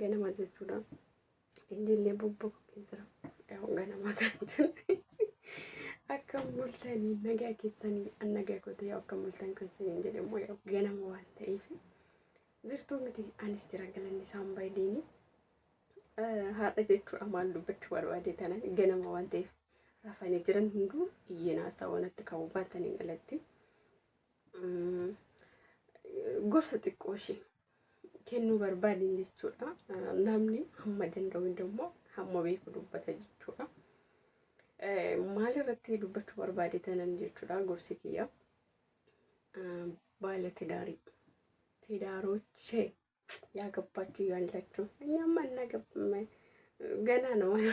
Ganama jechuudha. Illee bubbuqee jira. Ganama kan jiru. Akka mul'atanii nagaa keessanii an nagaa gootee akka mul'atan kan siniin jedhamu ganama waan ta'eef jirtuu miti anis jira galanni isaan baay'ee haadha jechuudha maal dubbachuu barbaade tanan ganama waan ta'eef rafanii jiran hunduu iyyeen haasaa wanatti qabu baatanii galatti gorsa xiqqoo ishee kennuu barbaadin jechuudha. Namni hamma danda'u immoo hamma beeku dubbata jechuudha. Maal irratti dubbachuu barbaade tanan jechuudha gorsi kiyya. Baala tidaarii. Tidaarochee yaa gabbaachu yaa lachuu. Nyaamma gana namaa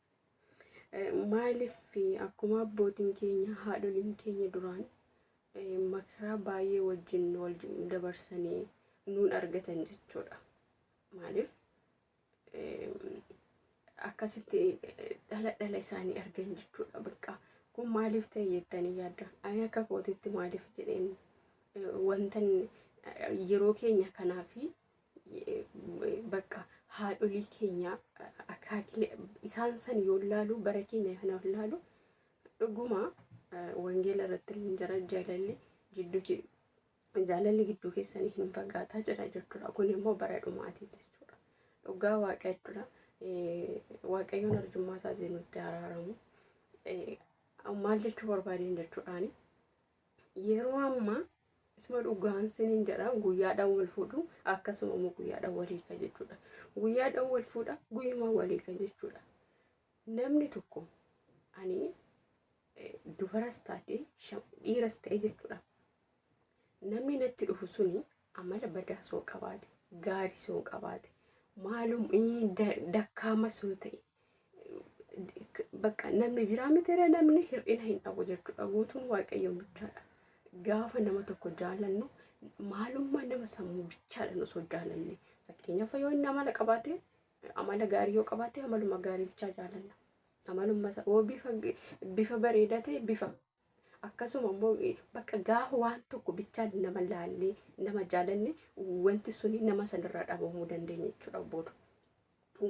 Maaliif akkuma abbootiin keenya haadholiin keenya duraan makaraa baay'ee wajjin wal dabarsanii nuun argatan jechuudha. Maaliif akkasitti dhala dhala isaanii argan jechuudha bakka. Kun maaliif ta'e jettanii yaadda? Ani akka kootitti maaliif jedheen wantan yeroo keenya kanaa fi bakka haadholii keenya akaakilee isaan san yoo laalu bara keenya kana laalu dhuguma wangeela irratti hin jira jaalalli jidduu jaalalli gidduu keessanii hin fagaataa jira jechuudha. Kun immoo bara dhumaati jechuudha. Dhugaa waaqa jechuudha. Waaqayyoon arjummaa isaatiin nutti araaramu. Maal jechuu barbaadeen jechuudhaani Yeroo ammaa isuma dhugaan siniin jedha guyyaadhaan wal fuudhu akkasuma immoo guyyaadhaan wal hiika jechuudha. Guyyaadhaan wal fuudha guyyuma wal hiika jechuudha. Namni tokko ani eh, dubaras taate sham- dhiiras ta'e jechuudha. Namni natti dhufu suni amala badaa soo qabaate gaarii soo qabaate maalum eh, da- dakkaama soo ta'e bakka namni biraa mitiiree namni hir'ina hin dhabu jechuudha. Guutuun waaqayyoon bichaadha. Gaafa nama tokko jaallannu maalummaa nama sammuu bichaadhaan osoo jaallanne fakkeenyaaf yoo inni amala qabaate amala gaarii yoo qabaate amaluma gaarii bichaa jaallanna. Amalummaa isaa yoo bifa bareedaa ta'e bifa akkasuma immoo bakka gaafa waan tokko bichaan nama laallee nama jaalanne wanti suni nama sanirraa dhabamuu dandeenya jechuudha booda.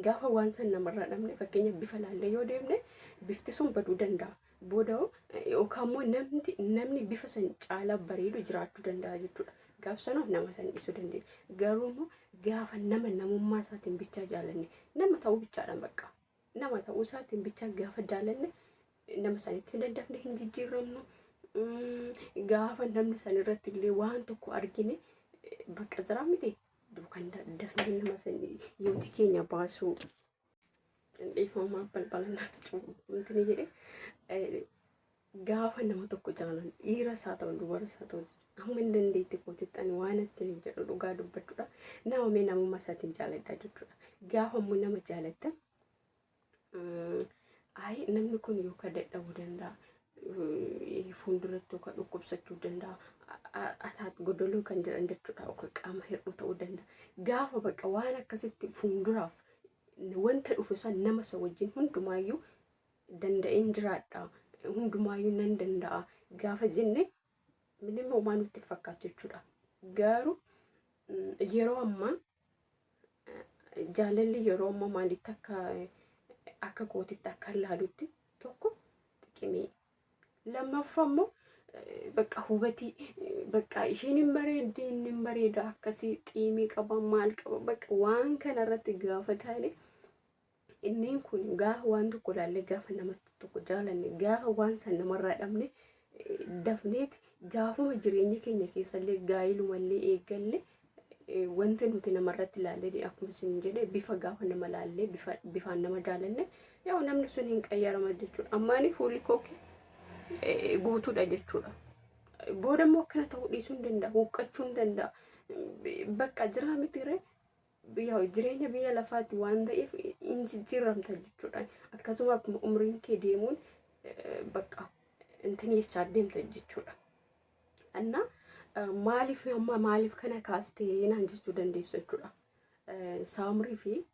Gaafa waan san namarraa dhabne fakkeenya bifa laallee yoo deemne bifti sun baduu danda'a. Booda yookaan immoo namni namni bifa san caalaa bareedu jiraachuu danda'a jechuudha. Gaaf sanuuf nama san dhiisuu dandeenya. Garuu immoo gaafa nama namummaa isaatiin bichaa jaalanne nama ta'uu bichaadhaan bakka. nama ta'uu isaatiin bichaa gaafa jaalanne nama sanitti daddafne hin jijjiiramnu. Gaafa namni san irratti illee waan tokko argine bakka jiraa miti duukan daddafne nama san yooti keenya baasuu. Dhiifamaa balbala naatti cufu. Wanti ni jedhe Gaafa nama tokko jaalan dhiiras haa ta'u dubaras haa ta'u amma hin dandeetti kootitti ani waan isiniin jedhu dhugaa dubbachuudha. Nama mee namummaa isaatiin jaaladhaa jechuudha. Gaafa immoo nama jaalattan ayi namni kun yookaan dadhabuu danda'a. Fuulduratti yookaan dhukkubsachuu danda'a. Ataat godoloo kan jedhan jechuudha yookaan qaama hir'uu ta'uu danda'a. Gaafa bakka waan akkasitti fuulduraaf wanta dhufu san nama isa wajjin hundumaayyuu danda'een jiraadha hundumaayyuu nan danda'a gaafa jenne minim homaa nutti fakkaatu jechuudha. Garuu yeroo ammaa jaalalli yeroo ammaa maalitti akka akka kootitti akka laalutti tokko xiqimee lammaffaa immoo bakka hubatii bakka isheen hin bareeddi inni hin bareeda akkasii xiimii qaba maal qaba bakka waan kanarratti gaafa taane Inneen kun gaafa waan tokko ilaallee gaafa nama tokko jaalanne gaafa waan san namarraa dhabne eh, dafneeti gaafuma jireenya keenya keessallee gaa'ilumallee eegalle eh, wanta nuti namarratti ilaallee akkuma isin jedhe bifa gaafa nama ilaallee bifa bifaan nama jaalanne yoo namni sun hin qayyarama jechuudha ammaanii fuulli koo kee eh, guutuudha jechuudha. Booda immoo akkana ta'uu dhiisuu hin danda'a huqqachuu hin danda'a bakka jiraa miti ree jireenya biyya lafaatti waan ta'eef hin jijjiiramta jechuudha. Akkasuma akkuma umriin kee deemuun bakka intin jechaa deemta jechuudha. Anna maaliif amma maaliif kana kaastee naan jechuu dandeessu jechuudha. Saamrii fi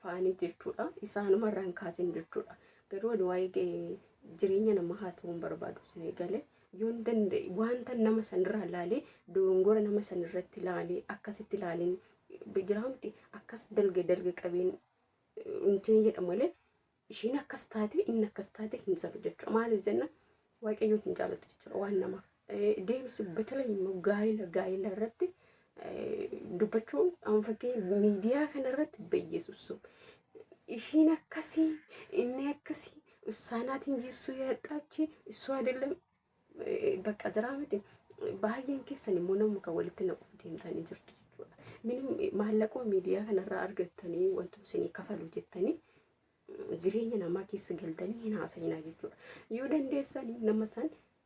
faanii jechuudha. Isaanuma irraan kaasin jechuudha. Garuu waa'ee jireenya nama haasawuun barbaadu isin eegale. Yoon danda'e wanta nama sanirraa laalee dogongora nama sanirratti laalee akkasitti laaleen jiraa miti akkas dalga dalga qabeen intiin jedha malee ishiin akkas taate inni akkas taate hin salu jechuudha. Maaliif jenna waaqayyoon hin jaalatu jechuudha waan namaaf. Deebisi batalee immoo gaa'ila gaa'ila irratti dubbachuun amma fakkii miidiyaa kanarratti bayyeessu ishiin akkasii inni akkasii issaanaatiin jiissuu yaadhaachi issuu adeellam bakka jiraa miti baay'een keessan immoo nama kan walitti naquuf deemtanii jirtu jechuudha. Minim maallaquma miidiyaa kanarraa argattanii wantoota isinii kafalu jettanii jireenya namaa keessa galtanii hin haasa'inaa jechuudha. Yoo dandeessanii nama san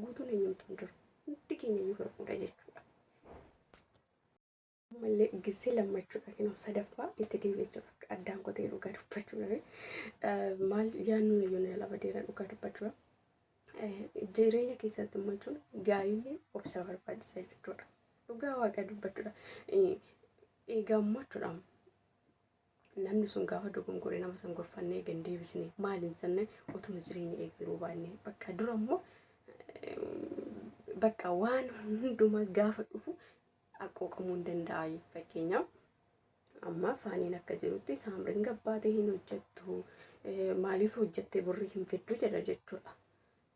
guutuun eenyumtu hin jiru. Hundi keenya iyyuu hir'uudha jechuudha. Ammallee gisee lammachuudha kennu sadaffaa itti deebi'ee jira. Addaan kotee dhugaa dubbachuu dhabe. Maal yaadnu yoo na lafa deera dhugaa dubbachuudha. Jireenya keessatti immoo jechuun gaa'illi obsa barbaachisa jechuudha. Dhugaa waaqa dubbachuudha. Eegaa immoo jechuudha. Namni sun gaafa dogongore nama san gorfannee gad deebisne maal hin jenne otuma jireenya eegaluu baanne bakka dura immoo bakka waan hundumaa gaafa dhufu haqqooqamuu hin danda'a fakkeenyaaf. Amma faaniin akka jirutti saamriin gabbaatee hin hojjettu maaliif hojjettee borri hin fiddu jedha jechuudha.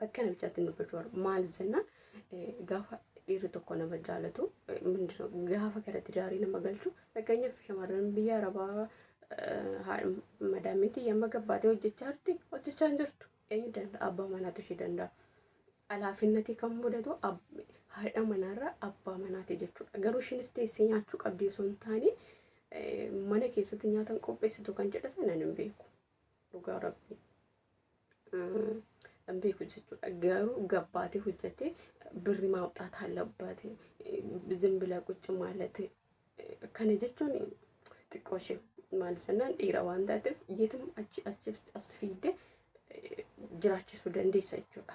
Bakka namichaatti nu gochuu barbaadu maaliif jenna gaafa dhiirri tokko nama jaalatu mindira gaafa gara tidaarii nama galchu fakkeenyaaf shamarran biyya arabaa madaamiitii yamma gabbaatee hojjechaa jirti hojjechaa hin jirtu eenyu danda'a abbaa manaatu ishee danda'a. Alaafinnatii kan mudatu haadha manaarra abbaa manaati jechuudha garuu ishiinis teessee nyaachuu qabdi osoo hin taane mana keessatti nyaatan qopheessitu kan jedhasa nan hin beeku. dhugaa rabbii hin beeku jechuudha garuu gabbaatee hojjatee birri maawxaat hallabbaate zimbila qucci maalate kana jechuun xiqqoo ishee maal jennaan dhiira waan taateef yeetuma achi achi as fiidde jiraachisuu dandeessa jechuudha.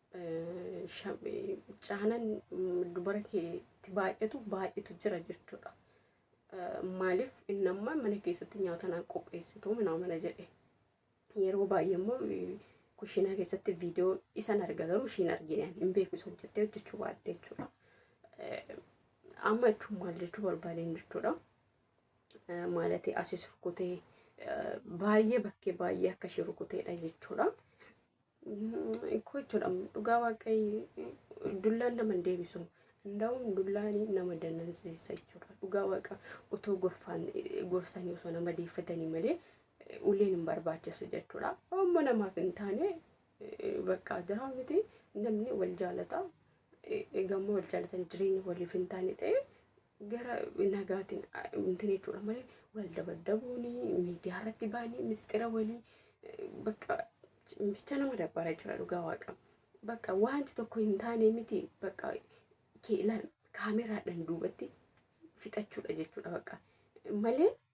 caanan dubara keetti baay'atu baay'atu jira jechuudha. Maaliif inni amma mana keessatti nyaata naan qopheessitu minaa mana jedhe. Yeroo baay'ee immoo kushiinaa keessatti viidiyoo isan arga garuu ishiin argine hin beeku isa hojjettee hojjechuu baatte jechuudha. Amma jechuun maal jechuu barbaadeen jechuudha. Maalatee asis rukutee baay'ee bakkee baay'ee akka ishee rukuteedha jechuudha. Ikkoo jechuudha dhugaa waaqayyoo dullaan nama hin deebisu. Ndaa'uun dullaan nama danansiisa jechuudha. Dhugaa waaqa otoo gorfaan gorsanii osoo nama deeffatanii malee uleen hin barbaachisu jechuudha. Amma namaaf hin taane bakka jiraa miti namni wal jaalata. Egaa immoo wal jaalatan jireenya waliif hin taane ta'e gara nagaatiin miti jechuudha malee wal dabaddabuun miidiyaa irratti baanii misxira walii bakka bicha nama dabbara jira dhugaa waaqa bakka wanti tokko hin taane miti bakka kaameraadhaan duubatti fixachuudha jechuudha bakka malee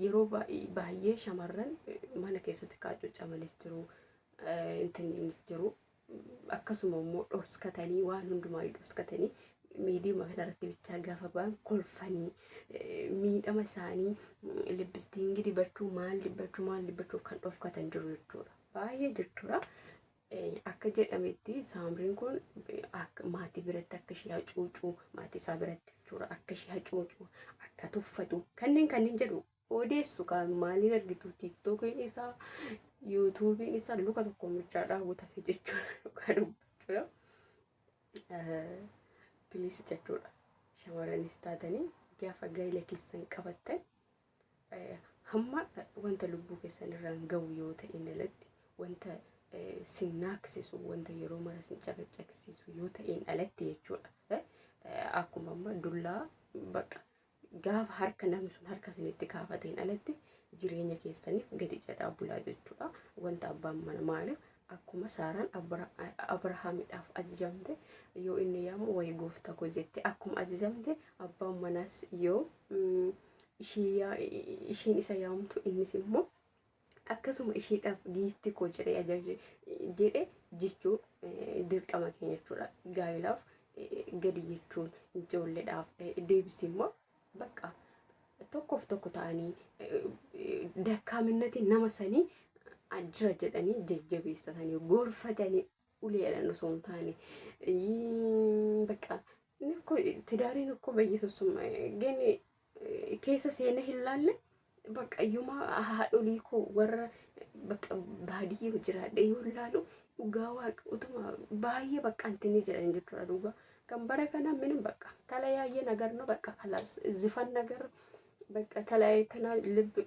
Yeroo baay'ee shamarran mana keessatti qaacuuccamanis jiru, intinniinis jiru. Akkasuma immoo dhoskatanii waan hundumaa dhoskatanii miidiyaa kanarratti bichaa gaafa ba'an kolfanii miidhama isaanii libbistiingi dibachuu maal dibachuu maal dibachuuf kan dhofkatan jiru jechuudha. Baay'ee jechuudha. Akka jedhametti saamriin kun akka maatii biratti akka ishee hacuucu maatii isaa biratti jechuudha akka ishee hacuucu akka tuffatu kanneen kanneen jedhu odeessu kan maaliin argitu tiiktookiin isaa yuutuubiin isaa luka tokko mirchaa daawwatame jechuudha dhugaa dubbachuudha. Pilis jechuudha shamarranis taatanii gaafa gaa'ila keessan qabattan hamma wanta lubbuu keessan irraan ga'u yoo ta'een alatti wanta sin naaksisu wanta yeroo mara sin caqacaqsiisu yoo ta'een alatti jechuudha. Akkuma amma dullaa baqa gaafa harka namni sun harka sinitti kaafateen alatti jireenya keessaniif gadi jedhaa bulaa jechuudha. Wanta abbaan mana maaliif akkuma saaraan abrahaamidhaaf ajajamte yoo inni yaamu wayi gooftaa koo jette akkuma ajajamte abbaan manaas yoo mm, ishii yaa- ishiin isa yaamtu innis immoo akkasuma ishiidhaaf giifti koo jedhee ajaje jedhe jechuu eh, dirqama keenya jechuudha gaa'elaaf eh, gadi jechuun ijoolleedhaaf eh, deebisi immoo bakka tokkoof tokko ta'anii eh, eh, dakkaaminnatiin nama sanii ah, jira jedhanii jajjabeessatanii gorfatanii uleedhaan osoo hin taane bakka inni ko tidaariin ko bayyisussum gene keessa seena hin laalle bakka yuma haadholii ko warra bakka baadiyya jiraadhe yoo laalu dhugaa waaqa utuma baay'ee bakka antinni jiran jechuudha dhugaa kan bara kana minim bakka talayaayye nagar no bakka kalaas zifan nagar bakka talaayye tanaa libbi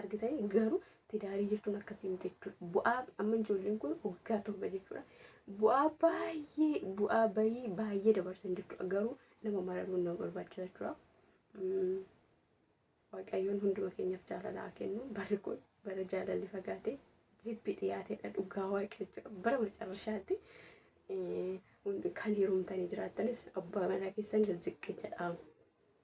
argitanii garuu tidaarii jechuun akkasii miti jechuudha. Bu'aa amma ijoolleen kun waggaa torba jechuudha. Bu'aa baay'ee bu'aa bayii baay'ee dabarsan jechuudha. Garuu nama maramuun nama barbaachisa jechuudha. Mm. Waaqayyoon hunduma keenyaaf jaalalaa kennu barri kun bara jaalalli fagaatee jibbi dhiyaatedha dhugaa waaqayyo jechuudha. Bara macarrashaatti eh, hundi- kan heerumtanii jiraattanis abbaa manaa keessan ziqqi jedhaamu.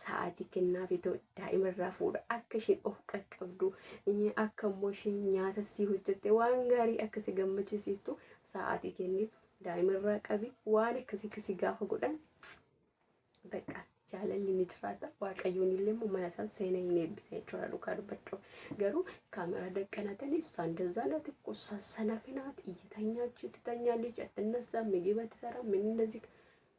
sa'aatii kennaafi too daa'ima irraa fuudha akka isheen of qaqqabdu eh, akka immoo isheen nyaata sii hojjette waan gaarii akka si gammachisiistu sa'aatii kenni daa'ima irraa qabi waan akkasii akka si gaafa godhan bakka jaalalli ni jiraata waaqayyoon illee immoo mana isaan seenee hin eebbisa jechuudha dhugaa dubbachuu garuu kaameraa daqqanatanii isaan dazaanati qusaa sana finaati iyyitanya achitti tanya lij attinnasaa migiba tisara minni እንደዚህ